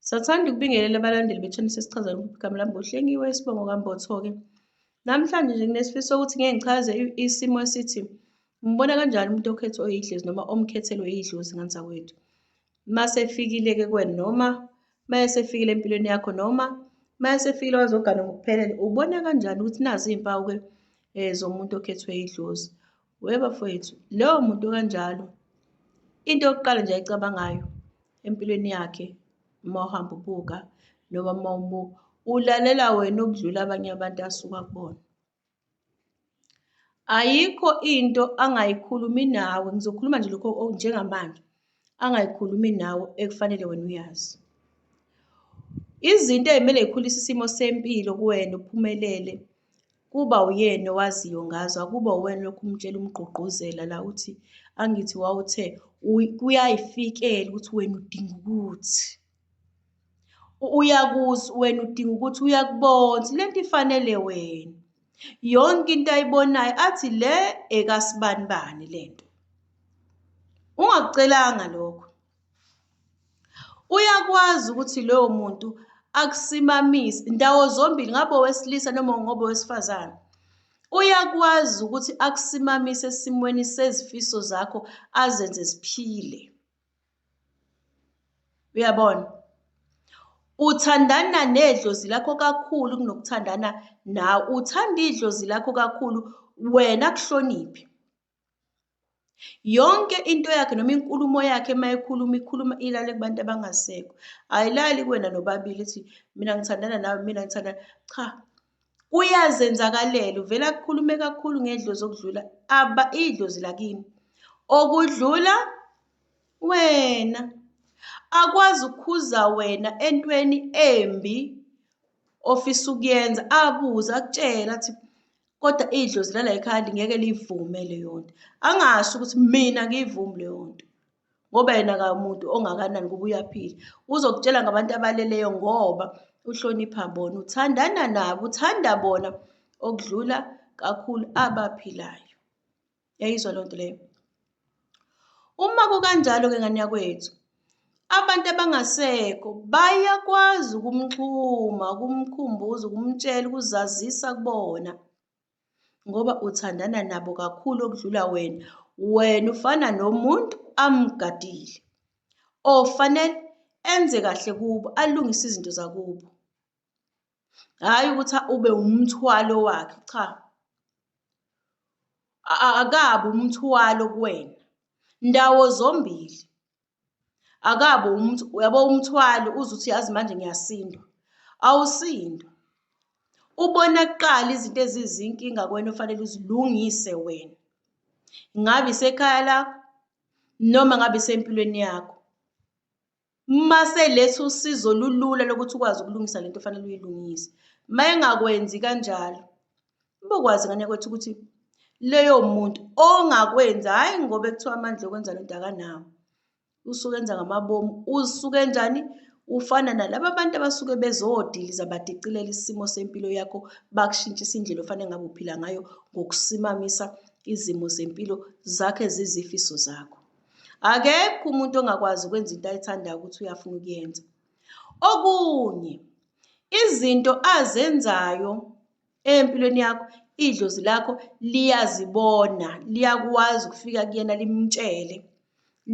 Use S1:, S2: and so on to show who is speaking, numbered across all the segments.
S1: Sathanda ukubingelela abalandeli bethuna sesichazela igama lami ngohlengiwe isibongo kambotho-ke. Namhlanje nje nginesifiso sokuthi ngeke ngichaze isimo esithi umbona kanjani umuntu okhethwe oyidlozi noma omkhethelwe idlozi nganzakwethu. Masefikile-ke kwena noma mayesefikile empilweni yakho noma mayesefikile wazogana ngokuphelele ubona kanjani ukuthi nazi iy'mpawu-ke um zomuntu okhethwe idlozi. We bafowethu, lowo muntu kanjalo into yokuqala nje ayicabangayo empilweni yakhe uma uhamba ubuka noma uma umuka ulalela wena ukudlula abanye abantu asuka kubona. Ayikho into angayikhulumi nawe, ngizokhuluma nje lokho njengamanje. angayikhulumi nawe ekufanele wena uyazi. Izinto ezikumele zikhulise isimo sempilo kuwena uphumelele kuba uyena owaziyo ngazo akuba uwena lokhu umtshela umgqugquzela la uthi angithi wawuthe kuyayifikela ukuthi wena udinga ukuthi uyakuzi wena udinga ukuthi uyakubona le nto ifanele wena yonke into ayibonayo athi le ekasibanibani le nto ungakucelanga lokho uyakwazi ukuthi loyo muntu akusimamise ndawo zombili ngabe owesilisa noma ngoba owesifazane uyakwazi ukuthi akusimamise esimweni sezifiso zakho azenze siphile uyabona uthandana nedlozi lakho kakhulu kunokuthandana nawe uthanda idlozi lakho kakhulu wena kuhloniphe yonke into yakhe noma inkulumo yakhe uma ekhuluma ikhuluma ilale kubantu abangasekho ayilali kuwena nobabili ithi mina ngithandana nawe mina ngithandana cha kuyazenzakalela uvela kukhulume kakhulu ngedlozi okudlula aba idlozi lakini okudlula wena akwazi ukukhuza wena entweni embi ofisa ukuyenza abuze akutshela athi kodwa idlozi lala ekhaya lingeke liyivume leyo nto angasho ukuthi mina ngiyivumi leyo nto ngoba yena kamuntu ongakanani kuba uyaphila uzokutshela ngabantu abaleleyo ngoba uhlonipha bona uthandana nabo uthanda bona okudlula kakhulu abaphilayo yayizwa loo nto leyo uma kukanjalo-ke ngane yakwethu abantu abangasekho bayakwazi ukumxhuma ukumkhumbuza ukumtshela ukuzazisa kubona ngoba uthandana nabo kakhulu okudlula wena wena ufana nomuntu amgadile ofanele enze kahle kubo alungise izinto zakubo hhayi ukuthi ube umthwalo wakhe cha akabi umthwalo kuwena ndawo zombili akabe umuntu uyabo umthwalo uze uthi yazi manje ngiyasindwa awusindwa ubona kuqala izinto ezizinkinga kwena ofanele uzilungise wena ngabe isekhaya lakho noma ngabe isempilweni yakho uma seletha usizo lulula lokuthi ukwazi ukulungisa lento ofanele uyilungise uma engakwenzi kanjalo Ubokwazi ngane kwethu ukuthi leyo muntu ongakwenza hhayi ngoba ekuthiwa amandla okwenza lento akanawo usuke enza ngamabomu usuke enjani ufana nalaba bantu abasuke bezodiliza badicilela isimo sempilo yakho bakushintshisa indlela ofanele ngabe uphila ngayo ngokusimamisa izimo zempilo zakhe zizifiso zakho akekho umuntu ongakwazi ukwenza into ayithandayo ukuthi uyafuna ukuyenza okunye izinto azenzayo empilweni yakho idlozi lakho liyazibona liyakwazi ukufika kuyena limtshele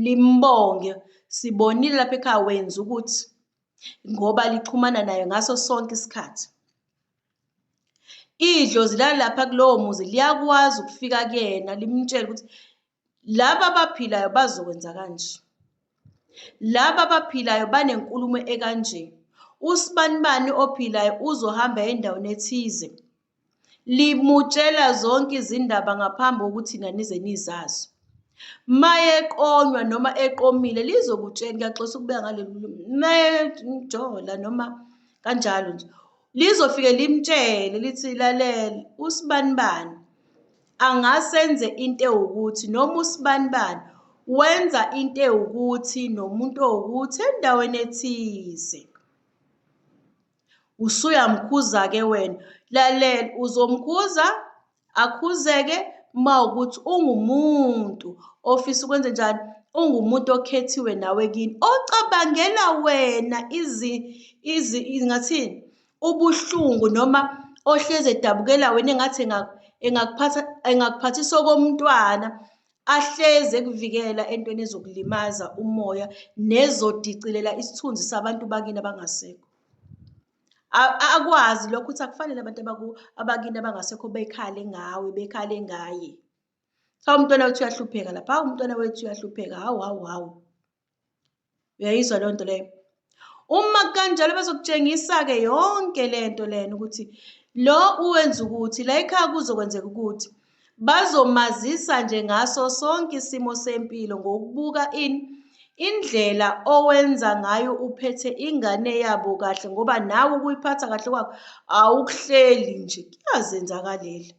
S1: limbonge sibonile lapha ekhaya wenza ukuthi ngoba lixhumana naye ngaso sonke isikhathi idlozi lalapha kulowo muzi liyakwazi ukufika kuyena limtshele ukuthi laba abaphilayo bazokwenza kanje laba abaphilayo banenkulumo ekanje usibanibani ophilayo uzohamba endaweni ethize limutshela zonke izindaba ngaphambi kokuthi nanize nizazo maye eqonywa noma eqomile lizokutshela ngiyaxosa ukubeka ngaleli maye njola noma kanjalo nje lizofike limtshele lithi lalela usibanibani angasenze into ewukuthi noma usibanibani wenza into ewukuthi nomuntu owukuthi endaweni ethize usuyamkhuza-ke wena lalela uzomkhuza akhuzeke uma ukuthi ungumuntu ofisa ukwenze njani ungumuntu okhethiwe nawe kini ocabangela wena izi izi ngathini ubuhlungu noma ohlezi edabukela wena engathi engakuphatha engakuphathisa okomntwana ahleze kuvikela entweni ezokulimaza umoya nezodicilela isithunzi sabantu bakini abangasekho akwazi lokho ukuthi akufanele abantu abakini abangasekho bekhale ngawe bekhale ngaye cha umntwana wethu uyahlupheka lapha hawu umntwana wethu uyahlupheka hawu hawu hawu uyayizwa leyo nto leyo uma kanjalo bezokutshengisa-ke yonke le nto lena ukuthi lo uwenza ukuthi la ekhaya kuzokwenzeka ukuthi bazomazisa nje ngaso sonke isimo sempilo ngokubuka in indlela owenza ngayo uphethe ingane yabo kahle ngoba nawe ukuyiphatha kahle kwakho awukuhleli nje kuyazenzakaleli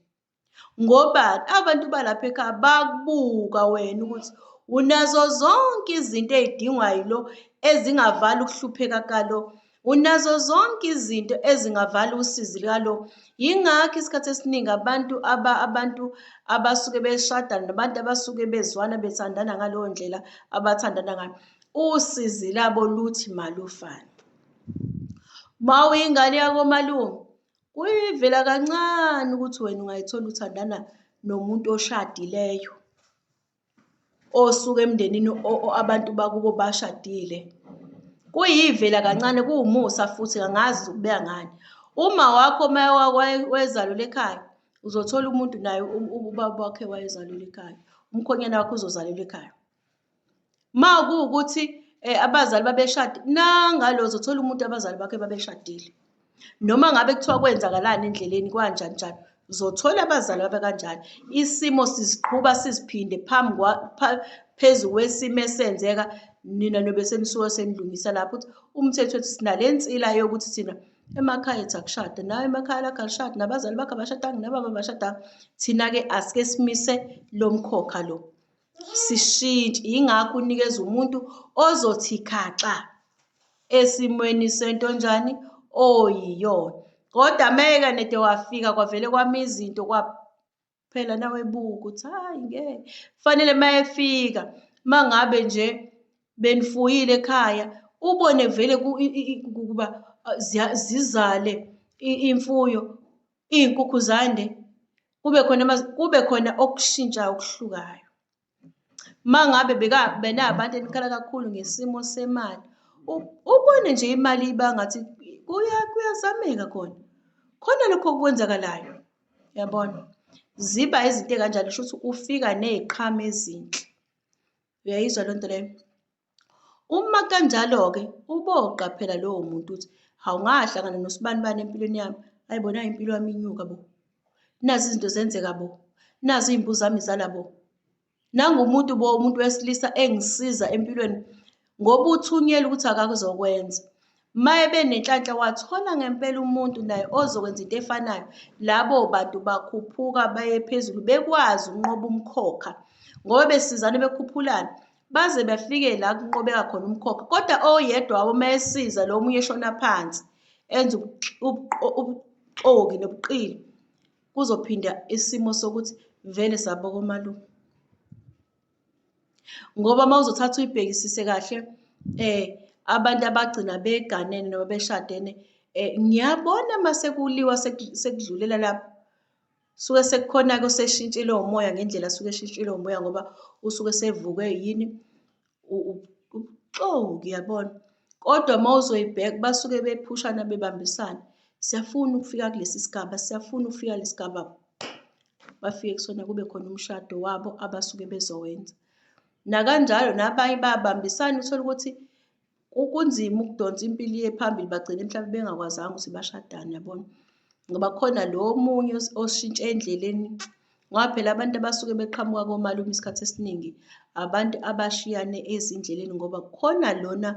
S1: ngobani abantu balapha ekhaya bakubuka wena ukuthi unazo zonke izinto ezidingwa yilo ezingavala ukuhlupheka kalo unazo zonke izinto ezingavala usizi lalo yingakho isikhathi esiningi abantu aba abantu abasuke beshada nabantu abasuke bezwana bethandana ngaleyo ndlela abathandana ngayo usizi labo luthi malufane uma uyingane yakomalume Kuyivela kancane ukuthi wena ungayithola uthandana nomuntu oshadileyo osuke emndenini abantu bakubo bashadile kuyivela kancane kuwumusa futhi angazi ukubeka ngani uma wakho uma wayezalula ekhaya uzothola umuntu naye ubaba wakhe wayezalula ekhaya umkhonyana wakho uzozalula ekhaya Uma kuwukuthi eh, abazali babeshadile nangalo uzothola umuntu abazali bakhe babeshadile noma ngabe kuthiwa kwenzakalani endleleni kwanjani njani uzothola abazali babe kanjani isimo siziqhuba siziphinde phambi phezu kwesimo esenzeka nina nobe senisuke senilungisa lapho ukuthi umthetho ethi sinale nsila yokuthi thina emakhaya ethu akushade nawe emakhaya lakho alishade nabazali bakho abashadanga nababa abashadanga thina-ke asike simise lo mkhokha lo sishintshe yingakho unikeza umuntu ozothi khaxa esimweni sento njani oyiyona kodwa meke nede wafika kwavele kwami izinto kwaphela nawe buka ukuthi hayi ngeke kufanele uma efika uma ngabe nje benifuyile ekhaya ubone vele ukuba zizale imfuyo iy'nkukhu zande kube khona kube khona okushintshayo okuhlukayo uma ngabe benabantu enikhala kakhulu ngesimo semali ubone nje imali iba ngathi kuyazameka khona khona lokho okwenzakalayo yabona ziba izinto ey'kanjalo kusho ukuthi ufika ney'qhamo ezinhle uyayizwa loo nto leyo Uma kanjalo-ke uboqaphela lowo muntu ukuthi awungahlangana nosibanibani empilweni yami, ayi bona impilo yami inyuka bo, nazi izinto zenzeka bo, nazi iy'mbuzi zami zala bo. Nangumuntu bo, umuntu wesilisa engisiza empilweni ngoba uthunyelwe ukuthi akakuzokwenza. Maye benenhlanhla wathola ngempela umuntu naye ozokwenza into efanayo labo bantu bakhuphuka baye phezulu bekwazi ukunqoba umkhokha ngoba besizane bekhuphulana baze bafike la kunqobeka khona umkhokha kodwa oyedwa wabo uma esiza lo omunye eshona phansi enza ubuxoki nobuqili kuzophinda isimo sokuthi vele sabokomalume ngoba uma uzothatha uyibhekisise kahle um abantu abagcina beganene noma beshadene um ngiyabona uma sekuliwa sekudlulela lapho suke sekukhona-ke oseshintshile umoya ngendlela suke eshintshile umoya ngoba usuke sevuke yini ubuxoki yabona kodwa uma uzoyibheka basuke bephushana bebambisana siyafuna ukufika kulesi sigaba siyafuna ukufika lesi sigaba bafike kusona kube khona umshado wabo abasuke bezowenza. Nakanjalo nabanye babambisana uthole ukuthi kunzima ukudonsa impilo iye phambili bagcine mhlawumbe bengakwazanga ukuthi bashadane yabona. Ngoba kukhona lo omunye oshintshe endleleni ngoba phela abantu abasuke beqhamuka komalume isikhathi esiningi abantu abashiyane ezindleleni ngoba kukhona lona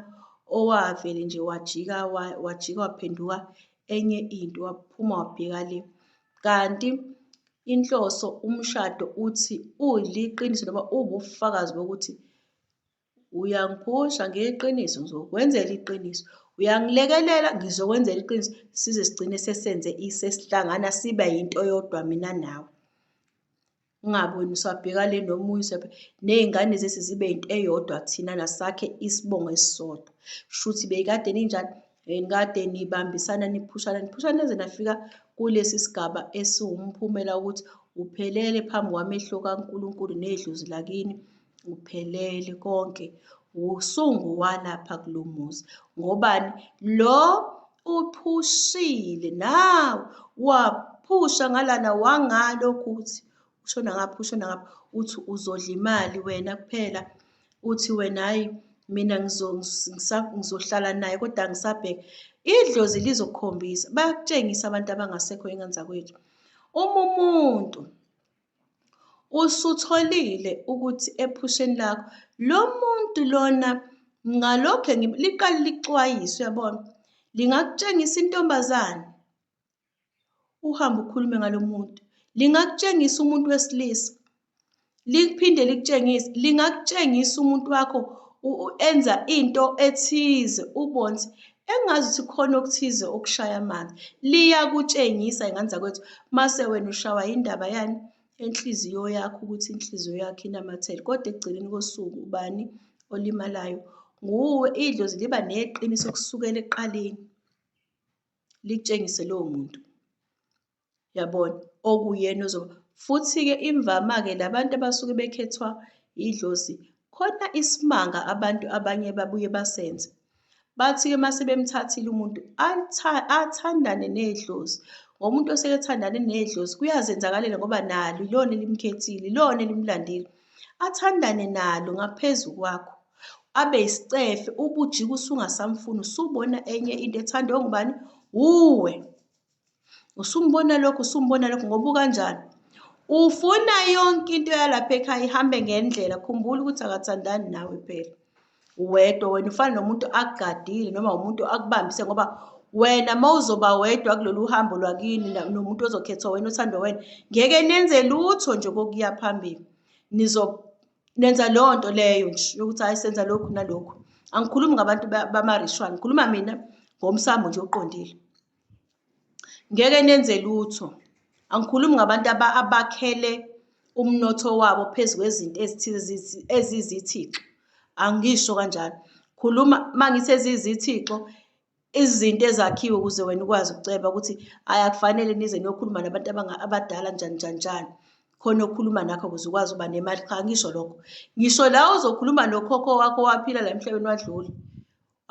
S1: owavele nje wajika wajika waphenduka enye into waphuma wabheka le. Kanti inhloso umshado uthi uliqiniso noma uwubufakazi bokuthi uyangiphusha ngeqiniso ngizokwenzela iqiniso uyangilekelela ngizokwenzela iqiniso size sigcine sesenze sesihlangana sibe yinto yodwa mina nawe ungaboni usabheka le noma uyisephe nezingane zethu zibe into eyodwa thina nasakhe isibongo esisodwa shuthi beyikade ninjani and kade nibambisana niphushana niphushana neze nafika kulesi sigaba esiwumphumela ukuthi uphelele phambi kwamehlo kaNkulunkulu nedlozi lakini Kuphelele konke wusungu walapha kulo muzi ngobani lo uphushile nawe waphusha ngalana wangalokhu uthi ushona ngapha ushona ngapha uthi uzodla imali wena kuphela uthi wena hayi mina ngizohlala naye kodwa ngisabheke idlozi lizokukhombisa bayakutshengisa abantu abangasekho enganzakwethu uma umuntu Usutholile ukuthi ephusheni lakho lo muntu lona ngalokhe liqale lixwayiswe yabona lingakutshengisa intombazane uhambe ukhulume ngalo muntu lingakutshengisa umuntu wesilisa liphinde likutshengise lingakutshengisa umuntu wakho enza into ethize ubonze engazi ukuthi khona okuthize okushaya amanzi liyakutshengisa ingane zakwethu mase wena ushawa yindaba yani enhliziyo yakho ukuthi inhliziyo yakho inamathele kodwa ekugcineni kosuku ubani olimalayo nguwe idlozi liba neqiniso kusukela ekuqaleni likutshengise lowo muntu yabona okuyena ozoba futhi-ke imvama-ke labantu abasuke bekhethwa idlozi khona isimanga abantu abanye babuye basenze bathi-ke uma sebemthathile umuntu athandane nedlozi ngoba umuntu oseke ethandane nedlozi kuyazenzakalela ngoba nalo ilona elimkhethile ilona elimlandile athandane nalo ngaphezu kwakho abe isicefe ubujika usungasamfuni usubona enye into ethandwe ngubani wuwe usumbona lokhu usumbona lokhu ngoba ukanjani ufuna yonke into yalapha ekhaya ihambe ngendlela khumbula ukuthi akathandani nawe phela wedwa wena ufana nomuntu akugadile noma umuntu akubambise ngoba wena uma uzoba wedwa kulolu hambo lwakini nomuntu ozokhethwa wena othandwa wena ngeke nenze lutho nje kokuya phambili nizo nenza leyo nto leyo nje yokuthi hayi senza lokhu nalokhu angikhulumi ngabantu bamarishwa ngikhuluma mina ngomsamo nje oqondile ngeke nenze lutho angikhulumi ngabantu abakhele umnotho wabo phezu kwezinto ezithize ezizithixo angisho kanjalo khuluma mangithi ezizithixo izinto ezakhiwe ukuze wena ukwazi ukuceba ukuthi ayakufanele nize niyokhuluma nabantu abadala njani njani njani khona okhuluma nakho ukuze ukwazi uba nemali cha ngisho lokho ngisho la ozokhuluma nokhokho wakho waphila la emhlabeni wadlula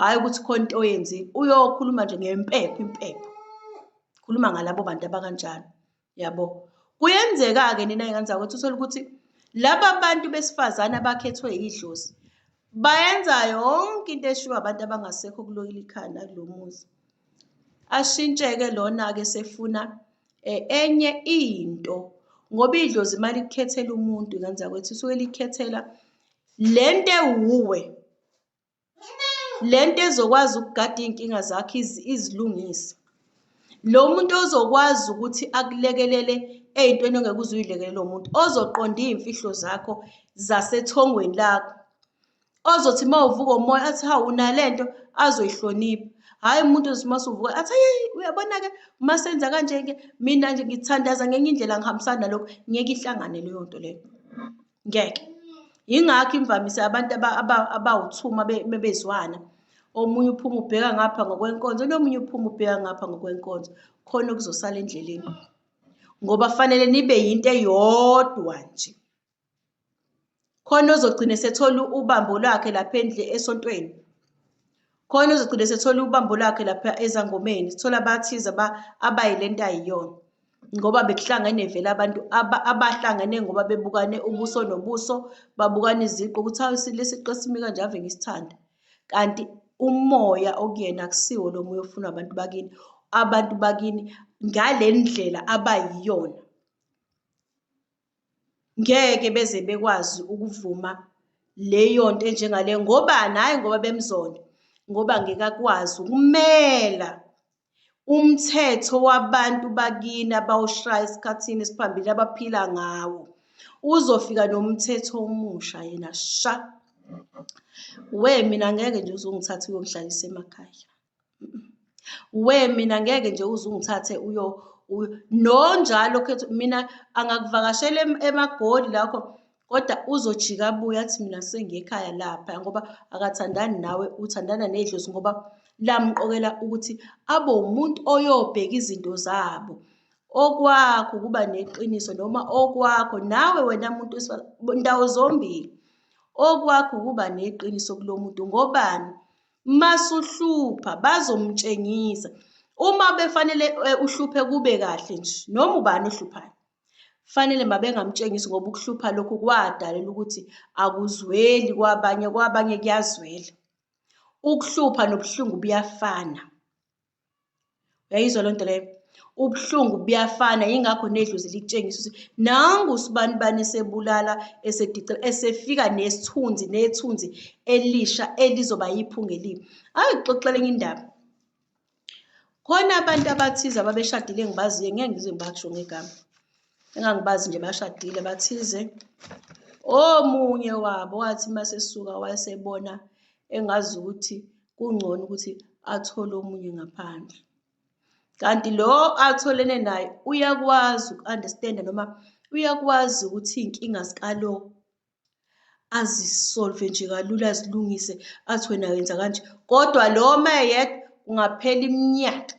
S1: hhayi ukuthi khona into oyenzile uyokhuluma nje ngempepho impepho khuluma ngalabo bantu abakanjalo yabo kuyenzeka-ke nina ingane zakwethu uthole ukuthi laba bantu besifazane abakhethwe yidlozi bayenza yonke into eshiwo abantu abangasekho kulokile ikhanda kulo muzi ashintsheke lona-ke sefuna eh, enye into ngoba idlozi imali kukhethela umuntu ingane zakwethu usuke likhethela le nto ewuwe le nto ezokwazi ukugada iy'nkinga zakho izilungise. Lo muntu ozokwazi ukuthi akulekelele ey'ntweni ongeke uze uy'lekelele umuntu, ozoqonda iy'mfihlo zakho zasethongweni lakho. Ozothi uma uvuka umoya athi hawu unale nto azoyihlonipha. Hhayi umuntu ozothi uma usuvuka athi ayi uyabona-ke uma senza kanje-ke mina nje ngithandaza ngenye indlela ngihambisana nalokhu, ngeke ihlangane leyo nto leyo. ngeke yingakho imvamisa abantu abawuthuma bebezwana omunye uphuma ubheka ngapha ngokwenkonzo nomunye uphuma ubheka ngapha ngokwenkonzo khona okuzosala endleleni ngoba fanele nibe yinto eyodwa nje khona ozogcina esethola ubambo lwakhe lapha endle esontweni khona uzogcina sethola ubambo lakhe lapha ezangomeni sithola abathize aba abayi lento ayiyona ngoba bekuhlangene vele abantu abahlangene ngoba bebukane ubuso nobuso babukana iziqu ukuthi hawu isilisa iqesimi kanje ave ngisithanda kanti umoya okuyena akusiwo lo moya ofuna abantu bakini abantu bakini ngale ndlela abayiyona ngeke beze bekwazi ukuvuma leyo nto enjengale ngobani hhayi ngoba bemzonda ngoba ngeke akwazi ukumela umthetho wabantu bakini abawushaya esikhathini esiphambili abaphila ngawo uzofika nomthetho omusha yena sha we mina ngeke nje uzongithatha uyongihlalisa emakhaya we mina ngeke nje uze ungithathe uyo no njalo khethu mina angakuvakashela emagoli lakho kodwa uzojika abuye athi mina sengiyekhaya lapha ngoba akathandani nawe uthandana nedlozi ngoba lamqokela ukuthi abe umuntu oyobheka izinto zabo okwakho ukuba neqiniso noma okwakho nawe wena muntu ndawo zombili okwakho ukuba neqiniso kulo muntu ngobani masuhlupha bazomtshengisa uma befanele eh, uhluphe kube kahle nje noma ubani ohluphayo fanele mabengamtshengisi ngoba ukuhlupha lokhu kwadalela ukuthi akuzweli kwabanye kwabanye kuyazwela ukuhlupha nobuhlungu buyafana uyayizwa loo nto leyo ubuhlungu buyafana yingakho nedlozi likutshengisa ukuthi nangu usibanibani esebulala esedice esefika nesithunzi nethunzi elisha elizoba yiphunga elibi ake kuxoxela enye indaba khona abantu abathize ababeshadile engibaziyo ngeke ngize ngibasho ngegama engangibazi nje bashadile bathize omunye wabo wathi masesuka wayesebona engazi ukuthi kungcono ukuthi athole omunye ngaphandle kanti lo atholene naye uyakwazi uku-understand noma uyakwazi ukuthi iy'nkinga zikalo azisolve nje kalula azilungise athi wena wenza kanje kodwa lo mayeyedwa kungaphela iminyaka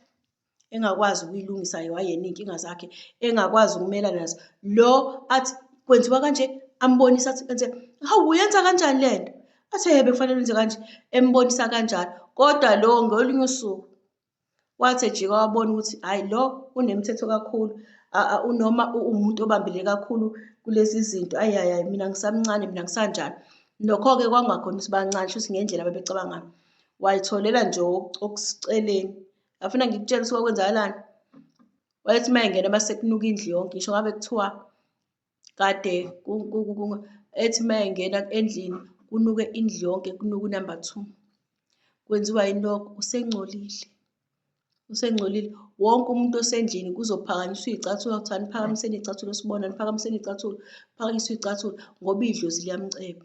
S1: engakwazi ukuyilungisa yena iy'nkinga zakhe engakwazi ukumelana nazo lo athi kwenziwa kanje ambonisa athi enze hawu uyenza kanjani le nto athi hebe kufanele wenze kanje embonisa kanjalo kodwa lo ngolunye usuku wathi ejika wabona ukuthi hhayi lo unemithetho kakhulu unoma uwumuntu obambile kakhulu kulezi zinto ayi hayi hayi mina ngisamncane mina ngisanjani nokho-ke kwakungakhona ukuthi bancane shuthi ngendlela babecabanga ngayo wayitholela nje okuceleni Ngafuna ngikutshela ukuthi kwakwenzakalani. Wayethi uma engena uma sekunuka indlu yonke, ngisho ngabe kuthiwa kade ethi uma engena endlini kunuke indlu yonke, kunuke unumber two. Kwenziwa yini lokho? Usengcolile. Usengcolile. Wonke umuntu osendlini kuzophakanyiswa iy'cathulo, kuthiwa niphakamiseni iy'cathulo sibona, niphakamiseni iy'cathulo, phakanyiswa iy'cathulo ngoba idlozi liyamceba.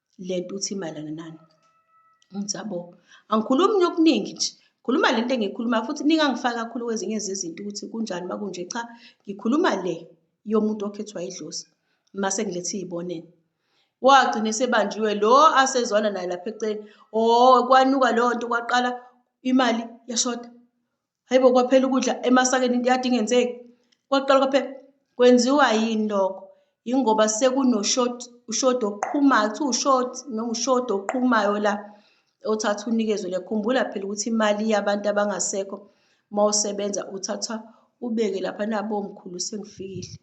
S1: Le nto uthi mayelana nani? Ngithi yabo, angikhulumi nje okuningi nje. Khuluma le nto engiyikhulumayo futhi ningangifaki kakhulu kwezinye zezinto ukuthi kunjani uma kunje. Cha, ngikhuluma le yomuntu okhethwa idlozi mase ngilethe iy'bonelo. Wagcina esebanjiwe lo asezwana naye lapha eceleni, o oh, kwanuka leyo nto kwaqala imali yashoda. hayibo kwaphela ukudla emasakeni into yade ingenzeki kwaqala kwaphela kwenziwa yini lokho yingoba sekunoshoti ushoti oqhumayo kuthiwa ushoti noma ushoti oqhumayo la othatha unikezwe le khumbula phela ukuthi imali yabantu abangasekho uma usebenza uthatha ubeke lapha nabo mkhulu sengifikile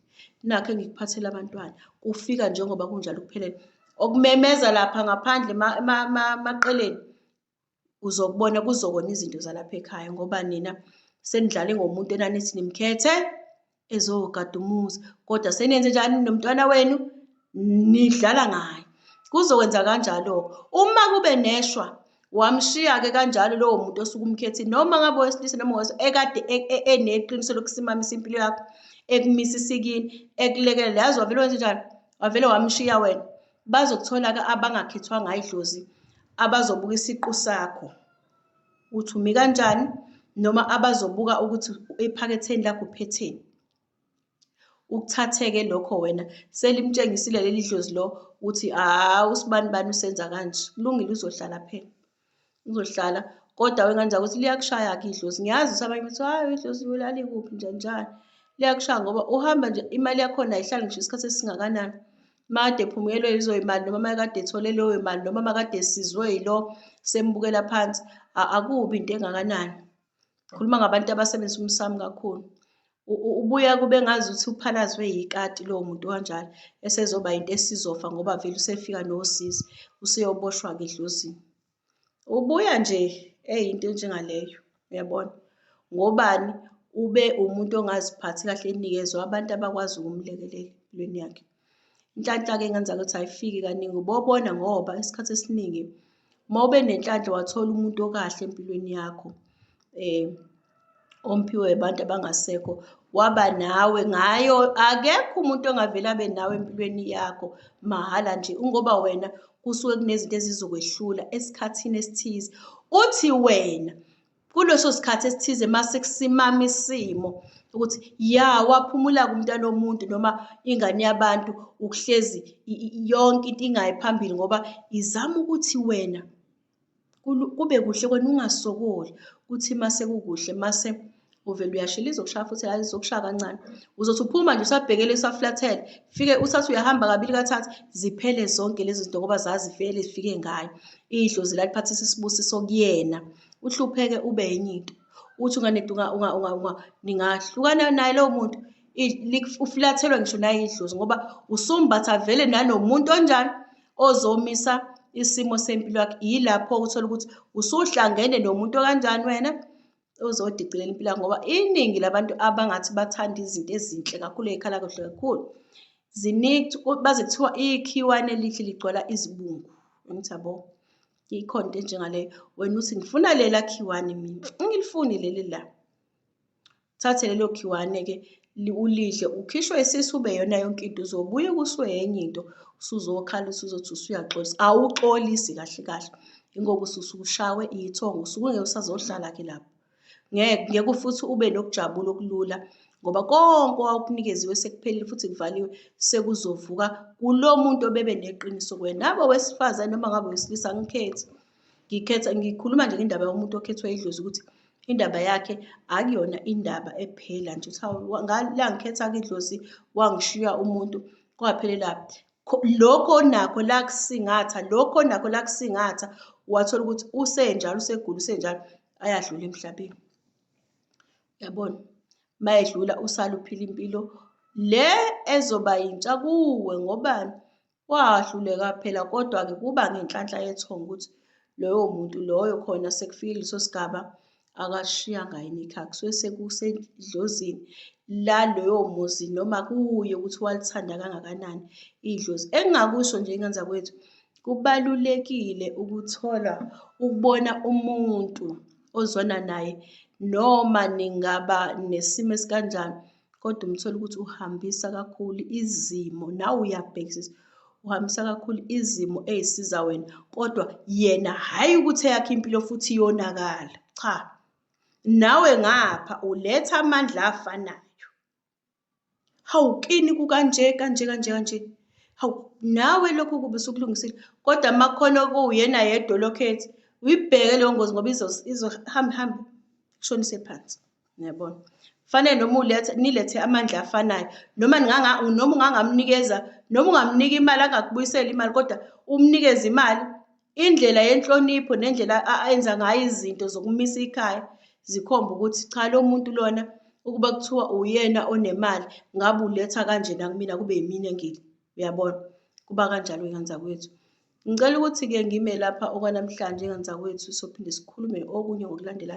S1: nakho engikuphathela abantwana kufika njengoba kunjalo kuphelele okumemeza lapha ngaphandle emaqeleni uzokubona kuzokona izinto zalapha ekhaya ngoba nina senidlale ngomuntu enanithi nimkhethe ezogada umuzi kodwa senenze njani nomntwana wenu nidlala ngaye kuzokwenza kanjalo uma kube neshwa wamshiya-ke kanjalo lowo muntu osuke umkhethile noma ngabe owesilisa noma ngowesa ekade e, e, eneqiniso lokusimamisa impilo yakho ekumisa isikini ekulekelela yazi wavele wenze njani wavele wamshiya wena Bazokuthola-ke abangakhethwanga idlozi abazobuka isiqu sakho ukuthi umi kanjani noma abazobuka ukuthi ephaketheni lakho uphetheni. Ukuthatheke lokho wena selimtshengisile leli dlozi lo ukuthi hhawu usibani bani usenza kanje. Kulungile uzohlala phela. Uzohlala kodwa wena nje ukuthi liyakushaya-ke idlozi. Ngiyazi ukuthi abanye bathi hhayi idlozi lalikuphi njani njani. Liyakushaya ngoba uhamba nje imali yakhona ayihlali ngisho isikhathi esingakanani. Makade ephumelwe yizo imali noma makade ethole leyo mali noma makade esizwe yilo sembukela phansi akubi into engakanani. Khuluma ngabantu abasebenzisa umsamo kakhulu. ubuya kube ngazuthi uphalazwe yikati lowo muntu kanjalo esezoba into esizofa ngoba vele usefika nosizi useyoboshwa-ke edlozini ubuya nje eyinto enjengaleyo uyabona ngobani ube umuntu ongaziphathi kahle enikezwe abantu abakwazi ukumlekelela empilweni yakhe Inhlanhla-ke engenza ukuthi ayifiki kaningi ubobona ngoba isikhathi esiningi uma ube nenhlanhla wathola umuntu okahle empilweni yakho eh omphiwe abantu abangasekho waba nawe ngayo akekho umuntu ongavele abe nawe empilweni yakho mahhala nje ungoba wena kusuke kunezinto ezizokwehlula esikhathini esithize uthi wena kuleso sikhathi esithize masikusimama isimo ukuthi ya waphumula kumntana omuntu noma ingane yabantu ukuhlezi yonke into ingayi phambili ngoba izama ukuthi wena kube kuhle kwena ungasokoli ukuthi mase kukuhle mase uvele uyashila izokushaya futhi hayi izokushaya kancane uzothi uphuma nje usabhekele usaflathele fike usathi uyahamba kabili kathathu ziphele zonke lezi zinto ngoba zazivele zifike ngayo idlozi laliphathisa isibusiso kuyena uhlupheke ube enye into uthi unganedi ningahlukana naye lowo muntu ufulathelwa ngisho nayidlozi ngoba usumbatha vele nanomuntu onjani ozomisa isimo sempilo yakhe yilapho uthola ukuthi usuhlangene nomuntu okanjani wena uzodicilela impilo ngoba iningi labantu abangathi bathanda izinto ezinhle kakhulu ey'khala kuhle kakhulu ziningi baze kuthiwa ikhiwane elihle ligcwala izibungu angithi yabo ikhona into enjengaleyo wena uthi ngifuna lela khiwane mina ngilifuni leli la thathe lelo khiwane-ke ulidle ukhishwe isisu ube yona yonke into uzobuye kuswe yenye into usuzokhala usuzothi usuyaxolisa awuxolisi kahle kahle ingoba ususukushawe iyithongo usuke ungeke usazohlala-ke lapho Ngeke, ngeke futhi ube nokujabula okulula ngoba konke owawukunikeziwe sekuphelile futhi kuvaliwe sekuzovuka kulo muntu obebe neqiniso kuwena nabe wesifazane noma ngabe wesilisa angikhethi ngikhetha ngikhuluma nje ngendaba yomuntu okhethwa idlozi ukuthi indaba yakhe akuyona indaba ephela nje ukuthi la ngikhetha-ke idlozi wangishiya umuntu kwaphelelaphi lokho onakho la kusingatha lokho onakho la kusingatha wathola ukuthi usenjalo usegula usenjalo ayadlula emhlabeni yabona mayedlula usala uphila impilo le ezoba yintsha kuwe ngobani wahluleka phela kodwa-ke kuba ngenhlanhla yethongo ukuthi loyo muntu loyo khona sekufike leso sigaba akashiyanga yini ikhaya kusuke sekusedlozini laloyo muzi noma kuye ukuthi walithanda kangakanani idlozi engingakusho nje ingane kwethu kubalulekile ukuthola ukubona umuntu ozwana naye noma ningaba nesimo esikanjani kodwa umthole ukuthi uhambisa kakhulu izimo nawe uyabhekisisa uhambisa kakhulu izimo eyisiza wena kodwa yena hhayi ukuthi eyakhe impilo futhi iyonakala cha nawe ngapha uletha amandla afanayo hawu kini kukanje kanje kanje kanje hawu nawe lokho kube sukulungisile kodwa makhona okuwuyena yedwa lokhethi uyibheke leyo ngozi ngoba izohamba ihambe kushonise phansi Niyabona? Fanele noma ulethe nilethe amandla afanayo. Noma ninganga noma ungangamnikeza noma ungamnika imali angakubuyisela imali kodwa umnikeze imali indlela yenhlonipho nendlela ayenza ngayo izinto zokumisa ikhaya zikhomba ukuthi cha lo muntu lona ukuba kuthiwa uyena onemali ngabe uletha kanjena kumina kube yimina engile uyabona kuba kanjalo ngenzankwethu Ngicela ukuthi-ke ngime lapha okwanamhlanje nganzakwethu sophinde sikhulume okunye ngokulandela